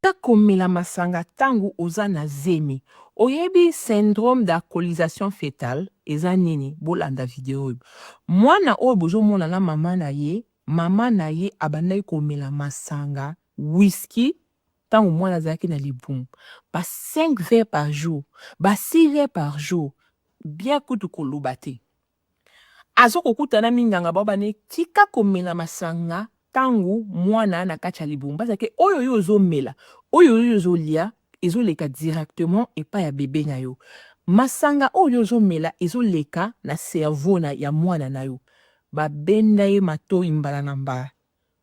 Tika komela masanga tangu oza na zemi oyebi syndrome d'alcoolisation fetale eza nini bolanda video oyo mwana oyo bozo mona na maman na ye maman na ye abandaki komela masanga whisky tangu mwana azalaki na libumu ba cinq verre par jour ba six verre par jour bien kutu koloba te. Azo kokuta na minganga bao bane tika komela masanga tangu muana na kati ya libumu baza ke oyo yo ozo mela oyo yo ozo lia ezo leka directement epai ya bebe na yo masanga oyo yo ozo mela ezo leka na cerveau na ya muana na yo ba benda ye matoyi mbala na mbala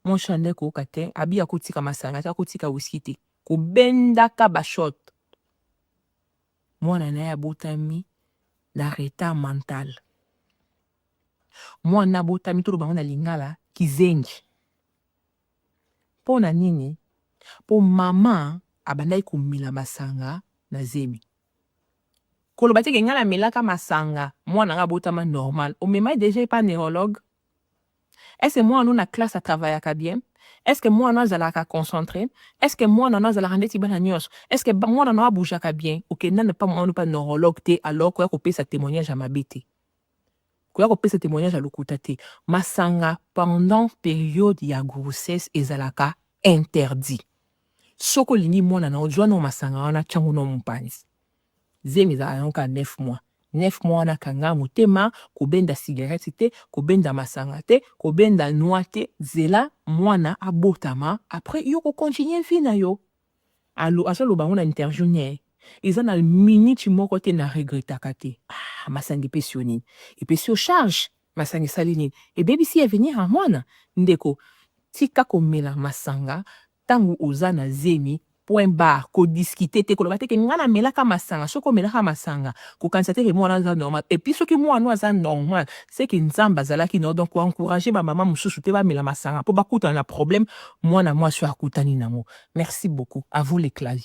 mon chande koyoka te abi akotika masanga te akotika whisky te kobendaka ba shot Mwana naye abotami na retard mental. Mwana abotami toloba yango na lingala kizengi. Pona nini? Po maman abandaki komela masanga na zemi. Koloba te ke ngai namelaka masanga mwana nanga abotama normal. Omema ye dejà epa neurologue? Est ce que muana no na classe a travaillaka bien? Est ce que muana no azalaka concentre? Est ce que muana no azalaka ndeti bana nionso? Est ce que muana no a bougeaka bien? Okenda na pa muana no pa neurologue te alors koya kopesa temoignage ya mabe te. Koya kopesa temoignage ya lokuta te. Masanga pendant periode ya grossesse ezalaka interdit. Soki olingi muana na yo zua na yo masanga wana tia ngo na yo mupanzi. Zemi ezalaka na yango kaka neuf mois. Neuf mois wana kanga motema, kobenda cigarette te, kobenda masanga te, kobenda noix te, zela mwana abotama après yo ko continuer vie na yo. Alo azo loba yango na interview ne eza na minute moko te na regrettaka te. Ah masanga epesi yo nini? Epesi yo charge? Masanga esali nini? Ebebisi avenir ya mwana? Ndeko tika komela masanga Tangu oza na zemi point barre ko discuter te koloba te ke nga na melaka masanga soki omelaka masanga kokanisa te ke muana oyo aza normal epuis soki muana oyo aza normal ce que nzambe azalaki na yo donc ko encourager ba maman mususu pe bamela masanga po bakutana na problème muana muasi oyo akutani nango merci beaucoup à vous les claviers.